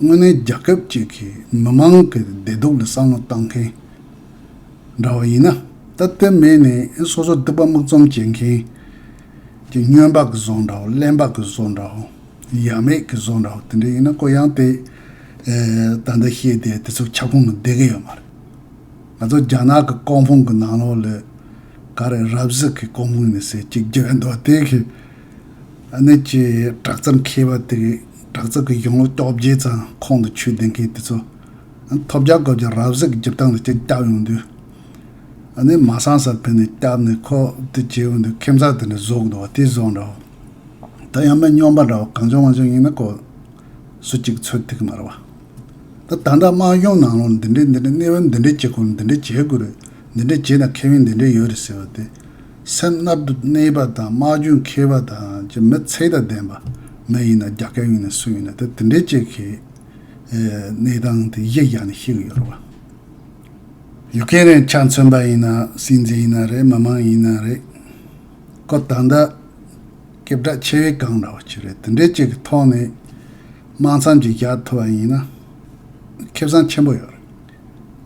Speaker 1: དངོས་གནས་རྒྱ་ཁབ་ཅིག་གི་མི་མང་གི་བདེ་སྡུག་ལ་བསམ་བློ་བཏང་མཁན་འདྲ་བ་ཡིན་ན། ད་ལྟོས་མེད་ནས་སོ་སོ་སྡུག་པ་སྨུག་འཛོམས་བྱེད་མཁན་གྱི་སྨྱོན་པ་གི་བཟོ་འདྲ་བོ་གླེན་པ་གི་བཟོ་འདྲ་བོ་ཡ་མེད་གི་བཟོ་འདྲ་བོ་དེ་འདྲ་ཡིན་ན་ཀོ་ཡང་དེ་ད་ལྟ་ཤེས་བསྡད་དེ་ཚོ་ཁྱབ་ཁོངས་ནང་བསྡད་གི་ཡོད་མ་རེད། ང་ཚོ་རྒྱ་ནག་གི་ཀོང་ཕུང་གི་ནང་ལོགས་ལས་ག་རེ་རབ་གཟིགས་ཀྱི་ཀོང་ཕུང་ནས་ཟེར་གཅིག་རྒྱུ་ཡོད་འདུག་བ་དེ་གི། གནད་ཀྱི་བྲག་རྩ་མཁས་པ་དེ་གའི་བྲག་རྩ་གི་གཞུང་ལུགས་རྟོག་བརྗེ་ཙམ་ཁོང་དུ་ཆུད་ལྡན་མཁན་དེ་ཚོ། ཐོབ་རྒྱ་སྐོར་གྱི་རབ་གཟིགས་ཀྱི་སྒྱུར་སྟངས་ལ་སྤྱིར་སྐྱབས་ཡོང་དུས། ནས་མ་སངས་སར་ཕེབས་ནས་སྐྱབས་ནས་ཁོ་དེ་བྱེད་འོས་འདུག་ཁྱིམ་ཚང་དེ་འདྲ་བཟོ་གི་འདུག་བ་དེ་བཟོ་འདྲ་བོ། ད་ཡང་མི་སྙོམས་པ་འདྲ་བོ་གང་བྱུང་མ་བྱུང་ཡིན་ན་ཀོ། སུ་གཅིག་ཚོད་ཐིག་མ་རེད་བ། ད་ད་འདྲ་དམངས་གཞུང་ནང་ལོག་འདི་འདྲས་འདི་འདྲས་གནས་བབ་འདི་འདྲས་བྱེད་དགོས་འདི་འདྲས་བྱེད་དགོས་རེད་འདི་འདྲས་བྱས་ན་ཁེ་ཕན་འདི་འདྲས་ཡོད་རེད་ཟེར་བ་དེ། སེམས་མནར་དུ་གནས་པ་དང་སྨྲ་རྒྱུ་མཁས་པ་དང་ཀྱི་མི་ཚེ་དང་ལྡན་པ་མི་ཡིན་ན་རྒྱ་སྐད་ཡིན་ན་སུ་ཡིན་ན་དེ་དེ་འདྲའི་སྐྱེད་ཁའི་གནས་སྟངས་དེ་གཞི་བཞག་ནས་ཤེས་གི་ཡོད་རེད་བ། ཡུག་གེ་རེད་ཕྱག་མཚོན་པ་ཡིན་ན་སྲིད་འཛིན་ཡིན་ན་རེད་མི་མང་ཡིན་ན་རེད། ཀོ་ད་ལྟ་སྐད་གྲགས་ཆེ་བའི་གང་འདྲ་བ་ཅི་རེད་དེ་འདྲའི་སྐྱེད་ཀྱི་ཐོག་ནས་དམངས་མཚམས་ཀྱི་བཞག་ཐུབ་བ་ཡིན་ན་ཁེ་བཟང་ཆེན་པོ་ཡོད་རེད།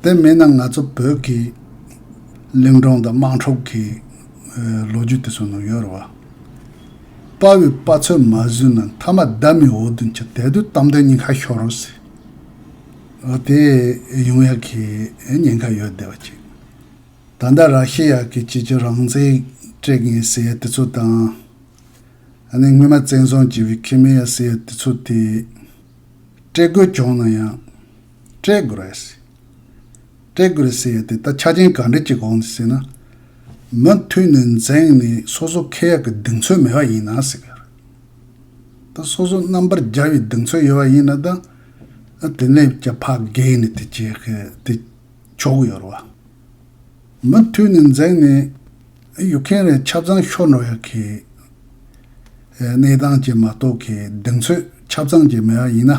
Speaker 1: དེ་མེད་ན་ང་ཚོ་བོད་ཀྱི་གླིང་སྒྲུང་དང་དམངས་ཁྲོད་ཀྱི་ལོ་རྒྱུས་དེ་ཚོ་ནང་ཡོད་རེད་བ། དཔའ་བོའི་དཔའ་ཚོད་མ་བཟོས་ན་མཐའ་མ་བདག་མེད་འོག་ཏུ་འཆི་དལ་དུ་གཏམ་དོན་ཉིན་ཁ་ཤོར་རོགས་ཟེར། ཨོ་དེ་ཡོང་ཡག་གི་ཉེན་ཁ་ཡོད་བསྡད་བ་ཅིག། ད་ལྟ་ར་ཤི་ཡ་གི་སྤྱི་ཁྱབ་རང་བཙན་སྤྲད་མཁན་ཟེར་ཡ་དེ་ཚོ་དང། ཨ་ནེ་སྔོན་མ་བཙན་བཟུང་བྱས་པའི་ཁེ་མེ་ཡ་ཟེར་ཡ་དེ་ཚོ་དེ། སྤྲད་དགོས་བྱུང་ན་ཡང། སྤྲད་དགོས་རེད། སྤྲད་དགོས་རེད་ཟེར་ཡོད་དེ་ད་ཆ་ཅན་ག་འདྲི་གྱི་གོང་ནས་ཟེར་ན། མུ་མཐུད་ནས་འཛེངས་ནས་སོ་སོ་ཁེ་ཡག་གི་གདེང་ཚོད་མེད་པ་ཡིན་ན་ཟེར་གི་རེད། ད་སོ་སོ་རྣམ་པར་རྒྱལ་བའི་གདེང་ཚོད་ཡོད་པ་ཡིན་ན་ད། དེ་ལས་ཀྱང་ཕ་བགད་ནས་དེ་བྱས་གི་དེ་ཆོག་གི་ཡོད་རེད་བ། མུ་མཐུད་ནས་འཛེངས་ནས་ཡོད་མཁན་རེ་ཆབ་ཚང་ཤོར་འགྲོ་ཡག་གི། གནས་སྟངས་ཅན་མ་གཏོགས་གི་གདེང་ཚོད་ཆབ་ཚང་ཅན་མེད་པ་ཡིན་ན།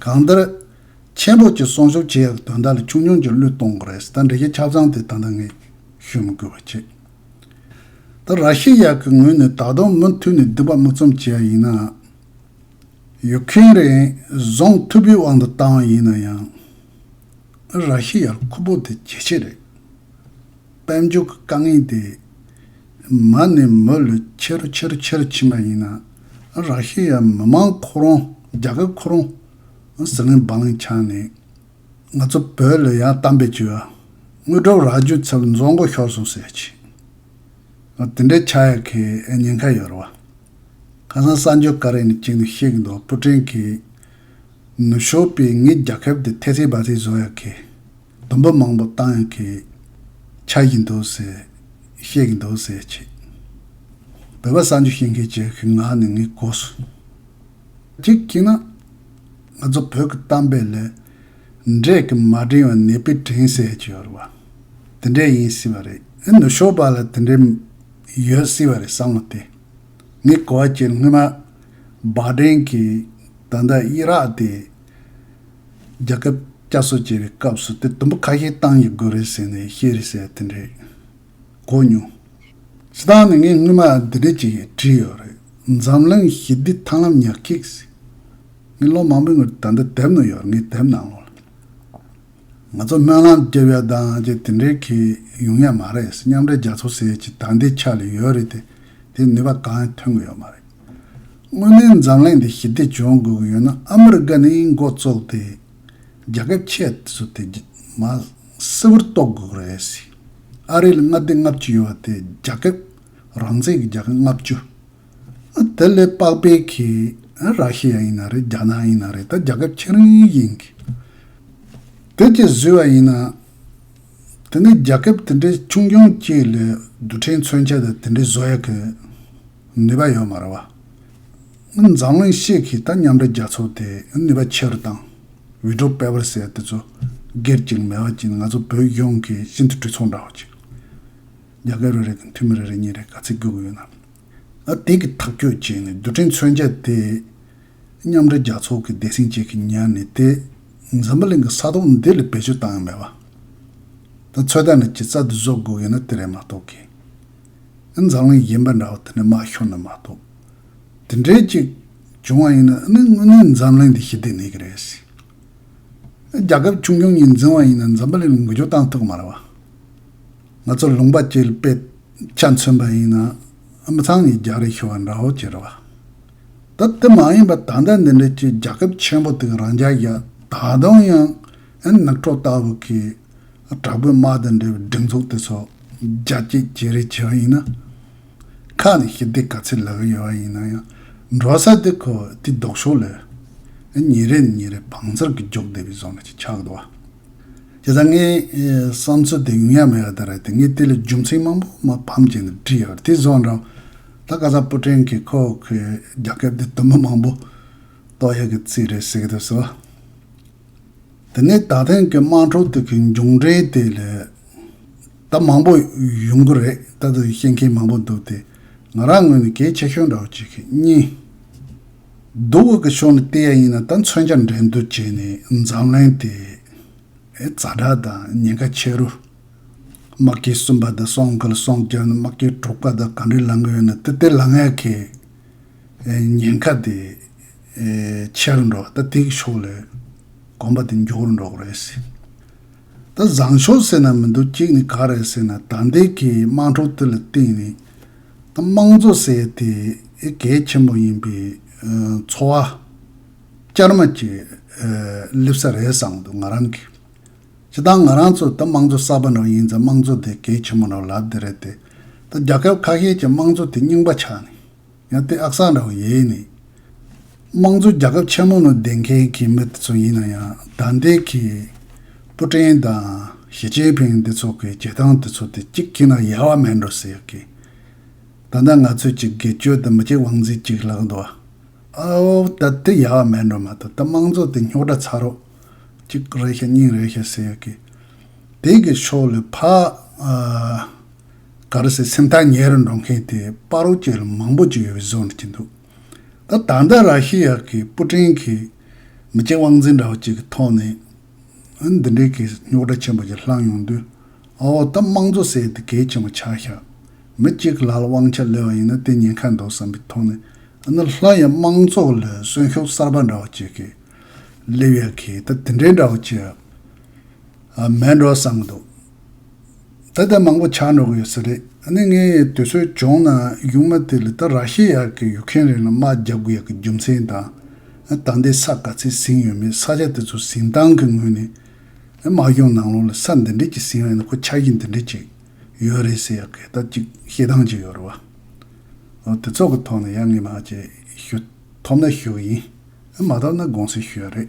Speaker 1: གང་ལྟར། ཆེན་པོ་ཀྱིས་གསོང་ཤུགས་ཆེ་ཡང་དོན་དག་ལ་ཆུང་ཆུང་གིས་བློས་གཏོང་གི་རེད་ད་འགྲེལ་བཤད་ཆ་ཚང་དེ་ད་ལྟ་ངས་ཤོད་མི་དགོས་པ་ཆེ། ད་ར་ཤི་ཡ་གི་ངོས་ནས་ད་དུང་མུ་མཐུད་ནས་འདི་པ་མུ་ཙམ་བྱས་ཡིན་ནའང། ཡུ་ཁེ་རེན་བཟུང་ཐུབ་པའི་དབང་དུ་བཏང་བ་ཡིན་ན་ཡང། ར་ཤི་ཡར་ཁུ་པོ་དེ་ཇེ་ཆེ་རེད། དཔལ་འབྱོར་གྱི་དཀའ་ངལ་དེ་མ་ནས་མོ་ལ་ཆེ་རུ་ཆེ་རུ་ཆེ་རུ་ཕྱིན་པ་ཡིན་ན་རག་ཤི་ཡ་མི་མང་ཁོ་རང་རྒྱ་གར་ཁོ་རང་ཟི་ལིང་བང་ལིང་ཆགས་ནས་ང་ཚོ་བོད་ལ་ཡང་གཏམ་བེད་སྤྱོད་དངོས་གྲུབ་རག་རྒྱུ་ཚབ་རྫོང་མགོ་ཤོར་སོང་ཟེར་གྱི་ཨོ་དེ་འདྲའི་ཆགས་ཡ་གི་ཉེན་ཁ་ཡོད་རེད་བ། ཁ་སང་གསར་འགྱུར་ཀ་རེ་ནས་གཅིག་ནས་བཤད་གི་འདུག་པུ་ཀྲིན་གྱིས་ནུ་ཞོ་པའི་ངའི་རྒྱ་ཁབ་དེ་ཐེ་ཐེ་བ་ཐེ་བཟོ་ཡ་གི་སྡོམ་པ་མང་པོ་བཏང་ཡང་ཁེ། ཆགས་ཀྱི་འདུག་ཟེར། བཤད་ཀྱི་འདུག་ཟེར་བྱེད། བོད་པ་གསར་འབྱོར་ཤེས་མཁན་གྱི་གི་ངག་ནི་ངའི་གོ་སོ། གཅིག་གིས་ན། ང་ཚོ་བོད་ཀྱི་གཏམ་དཔེ་ལས། འབྲས་ཀྱི་མ་དྲིན་བ་ནད་པས་དྲིན་ཟེར་གྱི་ཡོད་རེད་བ། དེ་འདྲས་ཡིན་སྲིད་བ་རེད་ཨེ་ནུ་ཞོ་པ་ལ་དེ་འདྲས། ཡོད་སྲིད་བ་རེད་བསམ་བློ་དེ། ངའི་གོ་བ་སྤྱིར་སྔོན་མ། བག་དྲིན་གྱིས་ད་ལྟ་དབྱི་རག་དེ། རྒྱལ་ཁབ་བསྐྱར་གསོ་བྱེད་པའི་སྐབས་སུ་དེ་དུམ་བུ་ཁ་ཤས་བཏང་ཡི་དགོས་རེད་ཟེར་ནས་བཤད་རེས་བྱས་དེ་འདྲས་གོ་མྱོང། སྤྱི་བཏང་ནས་ངས་སྔོན་མ་འདི་འདྲས་ཅིག་བྲིས་ཡོད་རེད། འཛམ་གླིང་ཞི་བདེའི་ཐང་ལམ་ཉག་ཁིག་ཟེར། ངས་ལོ་མང་པོའི་སྔོན་ད་འདི་དེབ་ནང་ཡོད་རེད་ངས་དེབ་ནང་ལོག་ལ། ང་ཚོ་སྨོན་ལམ་རྒྱབ་ཡོད་དང་ཅི་དེ་འདྲས་གི་ཡོང་ཡ་མ་རེད་ཟེར་མཉམ་འབྲེལ་རྒྱ་མཚོ་ཟེར་གྱི་ད་འདི་ཆགས་ལ་ཡོད་རེད་དེ་དེའི་ནུས་པ་གང་ཡང་ཐོན་གི་ཡོད་མ་རེད། དངོས་གནས་འཛམ་གླིང་འདི་ཞི་བདེ་བྱུང་དགོས་ཀྱི་ཡོད་ན་ཨ་མི་རི་ཀ་ནི་མགོ་བཙུགས་ཏེ་རྒྱ་ཁབ་ཁྱད་བསོད་དེ་རྒྱ་མ་སིལ་བུར་གཏོགས་དགོས་ཀྱི་རེད་ཟེར། ཨ་རིའི་མངའ་སྡེ་ལྔ་བཅུ་ཡོད་པ་དེ་རྒྱ་ཁབ་རང་བཙན་གྱི་རྒྱལ་ཁབ་ལྔ་བཅུ། དེ་ལས་དཔག་པའི་གིས་ར་ཤི་ཡ་ཡིན་ན་རེད་རྒྱ་ནག་ཡིན་ན་རེད་ད་རྒྱ་ཁབ་ཁྱེད་རང་ཡིན་གི། དེ་བཅས་བཟོས་བ་ཡིན་ན། དེ་ནས་རྒྱ་ཁབ་དེ་འདྲའི་ཆུང་ཆུང་གཅིག་ལས་རྡུལ་ཕྲན་མཚོན་ཆ་དེ་འདྲའི་བཟོ་ཡག་གི། ནུས་པ་ཡོད་མ་རེད་བ། འཛམ་གླིང་གཤེགས་ཀྱི་ད་མཉམ་འབྲེལ་རྒྱལ་ཚོགས་དེ་ནུས་པ་ཆེ་རུ་བཏང། བི་ཏྲོ་པེ་བར་སེ་དེ་ཚོ་སྒེར་གྱི་མེ་བ་གྱིས་ང་ཚོ་བོད་གཞུང་གི་ཤིན་ཏུ་གྲོས་ཚོགས་འདྲ་བ་ཅིག་རྒྱ་སྐད་རེ་རེ་དང་འཐུས་མི་རེ་རེ་གཉིས་རེ་ག་ཚད་རྒྱུག་གི་ཡོད་ན། ཨ་དེ་གི་ཐག་གཅོད་བྱས་ནས་རྡུལ་ཕྲན་མཚོན་ཆ་དེ་མཉམ་འབྲེལ་རྒྱལ་ཚོགས་ཀྱི་སྡེ་སྲིང་བཅས་ཀྱིས་ཉར་ནས་དེ་འཛམ་བུ་གླིང་གི་ས་དོང་འདི་ལ་བེད་སྤྱོད་བཏང་ཡོད་མེད་བ། ད་ཚོད་ལྟ་ནས་ཇི་ཙ་དུ་བཟོ་དགོས་ཡོད་ན་དེ་རེད་མ་གཏོགས་ཀྱི། ཨེ་འཛམ་གླིང་གཞན་པ་འདྲ་བོ་དེ་ནས་དམག་ཤོར་ནི་མ་གཏོགས། དེ་འདྲའི་ཅིག་བྱུང་བ་ཡིན་ན་ཨེ་ནི་དངོས་གནས་འཛམ་གླིང་འདི་ཞི་བདེ་མེད་གི་རེད་སྲིད། རྒྱ་ཁབ་ཆུང་ཆུང་གཉིས་འཛིང་བ་ཡིན་ན་འཛམ་བུ་གླིང་འགུལ་སྐྱོད་བཏང་ཐུག་མ་རེད་བ། ང་ཚོ་ལུང་པ་བཅས་ལ་དཔེ་ཆ་མཚོན་པ་ཡིན་ན་ཨེ་མི་ཚང་གཉིས་རྒྱག་རེས་ཤོར་བ་འདྲ་བོ་ཅི་རེད་བ། ད་དེ་མ་ཡིན་པར་ད་ལྟ་འདི་འདྲའི་ཅིག་རྒྱ་ཁབ་ཆེན་པོ་དེ་ག་རང་ཅག་ཡ་ད་དུང་ཡང་ཨེ་ནག་ཁྲོག་ལྟ་བུ་གིས་དྲག་པོའི་དམག་དང་འབྲེལ་བའི་སྒྲིག་འཛུགས་དེ་ཚོ་རྒྱ་སྐྱེད་བྱེད་རེས་བྱས་པ་ཡིན་ན། ཁག་ནས་ཞི་བདེ་ག་ཚད་ལག་གི་ཡོད་པ་ཡིན་ན་ཡང་འགྲོ་ས་དེ་ཁོ་དེའི་ལྡོག་ཕྱོགས་ལས། ཉིན་རེ་ནས་ཉིན་རེ་བང་མཛོད་ཀྱི་རྒྱོགས་བསྡད་པའི་བཟོ་ལ་ཅིག་ཆགས་འདུག་བ། དེ་ལྟར་ངའི་བསམ་ཚུལ་དེ་ཡུན་ཡང་མི་ཡོད་ད་རེད་དེ་ངས་དེ་ལ་རྒྱུ་མཚན་མང་པོ་མ་ཕམ་བྱས་ནས་བྲིས་ཡོད་དེ་བཟོ་འདྲ། ད་སྐལ་བཟང་སྤུ་ཕྲེང་གིས་ཁོ་གི་རྒྱ་ཁབ་དེ་དུམ་བུ་མང་པོ་གཏོགས་ཡོད་གི་རྩིས་རེད་ཟེར་གི་འདུག་བཟོ། འདི་ནི་ད་ཐེངས་ཀྱི་དམངས་ཁྲོད་དུ་གི་མཇུག་འབྲས་དེ་རེད། ད་མང་པོ་ཡོང་གི་རེད་ལྟ་དུ་བཤད་མཁན་མང་པོ་འདུག་དེ་ང་རང་ངོས་ནས་གལ་ཆེ་ཤོས་འདྲ་བོ་གཅིག་གིས་གཉིས། བསྡུ་བ་གི་ཕྱོགས་ནས་བལྟས་ཡ་ཡིན་ན་ད་མཚོན་ཆ་འགྲན་བསྡུར་བྱས་ནས་འཛམ་གླིང་དེ་རྫ་དྲག་དང་ཉེན་ཁ་ཆེ་རུ། དམག་སྐྱིད་གསུམ་པ་དང་སོང་ཁུལ་སོང་རྒྱ་ནི་དམག་སྐྱིད་དྲུག་པ་དང་ག་འདྲའི་ལང་གི་ཡོད་ན་དེ་ལྟའི་ལང་ཡ་གི་ཉེན་ཁ་དེ། ཆེར་འགྲོ་ད་ཐེག་ཆོག་ལོས་དགོངས་པ་དེ་མགྱོགས་རུ་འགྲོགས་རེད་ཟེར། ད་བཟང་ཕྱོགས་ཟེར་ན་མི་འདུག་གཅིག་ནི་ག་རེད་ཟེར་ན་ད་འདས་ཀྱི་དམངས་ཁྲོད་དེ་ལ་བརྟེན་ནས་ད་དམངས་གཙོ་ཟེར་དེ་གལ་ཆེན་པོ་ཡིན་པས་འཚོ་བ་བསྐྱར་མ་བྱས་སླེབས་ས་རེད་བསམ་འདུག་ང་རང་གིས། ཇི་ལྟར་ང་རང་ཚོ་ད་དམངས་གཙོ་གསར་པ་ནོར་ཡིན་ཙང་དམངས་གཙོ་དེ་གལ་ཆེན་པོ་ནོར་ལབ་དེ་རེད་དེ། ད་རྒྱ་ཁབ་ཁ་ཤས་ཀྱི་དམངས་གཙོ་དེ་རྙིང་པ་ཆགས་ནས། ཡང་སྟེ་ཨག་སང་ར་བའི་ཡས་ནི། དམངས་གཙོའི་རྒྱལ་ཁབ་ཆེན་མོ་ནང་བསྡད་མཁན་གྱི་མི་དེ་ཚོ་ཡིན་ན་ཡང་དར་འདེད་ཀྱི་སྤུ་ཀྲེང་དང་ཞི་ཅིན་ཕིང་འདི་ཚོ་གི་བྱེད་སྟངས་དེ་ཚོ་དེ་གཅིག་གྱིས་ན་ཡལ་བ་མེད་འགྲོ་ཟེར་གི། ད་ལྟ་ང་ཚོས་ཀྱི་དགེ་སྤྱོད་དེ་མི་གཅིག་དབང་འཛིན་གཅིག་ལག་འདུ་བ། ཨའོ་ད་དེ་ཡལ་བ་མེད་འགྲོ་མ་གཏོགས་ད་དམངས་གཙོ་དེ་རྙོག་དྲ་ཚ་རོགས་གཅིག་རེད་ཤག་གཉིས་རེད་ཤག་ཟེར་གི། དེ་གི་ཕྱོགས་ལས་ཕ། ག་རུ་སའི་སེམས་ཐག་ཉེ་རུ་འགྲོ་མཁན་དེ་པཱ་རོ་ཅེ་ལ་མང་པོ་ཅིག་ཡོད་པའི་བཟོ་འདུག་གིན་འདུག་ད་ད་ལྟ་ར་ཤི་ཡ་གི་པུ་ཀྲིན་གྱིས་མི་སྐྱ་དབང་འཛིན་འདྲ་བོ་ཅིག་གི་ཐོག་ནས་འདི་འདྲའི་གི་རྙོག་དྲ་ཆེན་པོ་ཅིག་བསླངས་ཡོང་དུས་ཨ་འོ་ད་དམངས་གཙོ་ཟེར་དེ་གལ་ཆེན་པོ་ཆགས་ཤག་མི་གཅིག་ལ་ལ་དབང་ཆ་ལོས་པ་ཡིན་ན་དེ་ཉེན་ཁ་འདུག་བསམ་པའི་ཐོག་ནས་ཨ་ན་སླར་ཡང་དམངས་གཙོ་ལ་གསོན་ཤོག་གསར་པ་འདྲ་བོ་ཅིག་གི་སླེབས་ཡ་གིས་ད་དེ་འདྲའི་འདྲ་བོ་ཅིག་མེད་འགྲོ་བསམ་གི་འདུག། ད་ལྟ་མང་པོ་ཆགས་འགྲོ་གི་ཡོད་ས་རེད། ནི་ངས་དུས་ཚོད་བྱུང་ན་གཞུང་མ་དེ་ལ་ད་ར་ཤི་ཡ་གི་ཡུག་ཁན་རིང་ལ་དམག་རྒྱག་དགོས་ཡ་གི་རྒྱུ་མཚན་དང། ད་ལྟའི་ས་ག་ཚད་ཟིན་ཡོད་མེད་ས་ཆ་དེ་ཚོ་ཟིན་སྟངས་གི་ངོས་ནས། དམག་གཞུང་ནང་ལོགས་ལ་ས་འདི་འདྲས་ཀྱི་ཟིན་ཡོད་ན་ཁོ་ཆ་གཞི་འདི་འདྲས་ཅིག་ཡོད་རེད་ཟེར་ཡ་གི་ད་ཅིག་ཤེས་སྟངས་ཅིག་ཡོད་རེད་བ། འོ་དེ་ཚོགས་གི་ཐོག་ནས་ཡ་ངས་མ་བྱས་ཞུ་ཐོབ་ན་ཞུ་གི་ཡིན། མ་ཐོབ་ན་དགོངས་སེལ་ཞུ་ཡ་རེད།